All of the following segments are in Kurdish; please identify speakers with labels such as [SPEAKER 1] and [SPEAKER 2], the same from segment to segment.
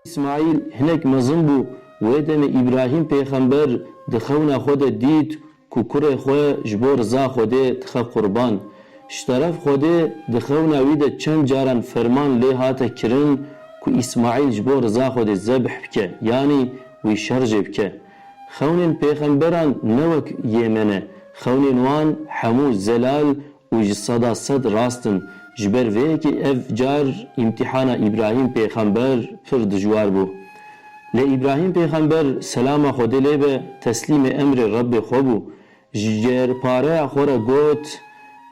[SPEAKER 1] Îsmaîl hinek mezin bû. Wê demê Îbrahîm pêxember di xewna xwe de dît ku kurê xwe ji bo riza Xwedê dixe qurban. Ji teref Xwedê di xewna wî de çend caran ferman lê hate kirin ku Îsmaîl ji bo riza Xwedê zebh bike yanî wî şer jê bike. Xewnên pêxemberan ne wek yê me ne. Xewnên wan hemû zelal Û ji seda sed rast in. Ji ber vê yekê ev car îmtîhana Îbrahîm pêxember pir dijwar bû. Lê Îbrahîm pêxember, selama Xwedê lê be, teslîmê emrê Rebbê xwe bû. Ji cêrpareya xwe re got,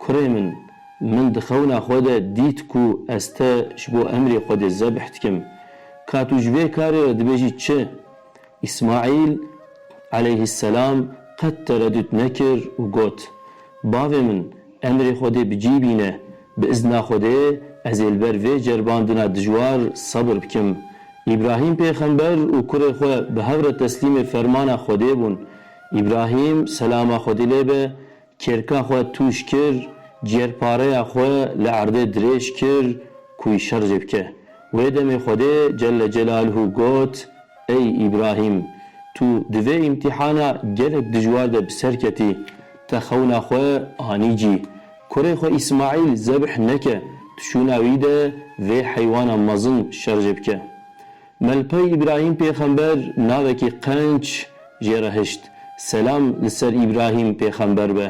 [SPEAKER 1] Kurê min! Min di xewna xwe de dît ku ez te ji bo emrê Xwedê zebh dikim. Ka tu ji vê karê re dibêjî çi? Îsmaîl, eleyhîsselam, qet teredût nekir û got, Bavê min, emrê Xwedê bi cî bîne, bi izna Xwedê ez ê li ber vê ceribandina dijwar sebir bikim. Îbrahîm pêxember û kurê xwe bi hev re teslîmê fermana Xwedê bûn. Îbrahîm, selama Xwedî lê be, Kêrka xwe tûj kir, ciyerpareya xwe li erdê dirêj kir ku wî şer jê bike. Wê demê Xwedê Celle Celaluhu got, Ey Îbrahîm! Tu di vê îmtîhana gelek dijwar de bi ser ketî. Te xewna xwe anî cî. Kurê xwe Îsmaîl zebh neke, tu şûna wî de vê heywana mezin şer jê bike. Melpay Îbrahîm pêxember navekî qenc jê re hişt. Selam li ser Îbrahîm pêxember be.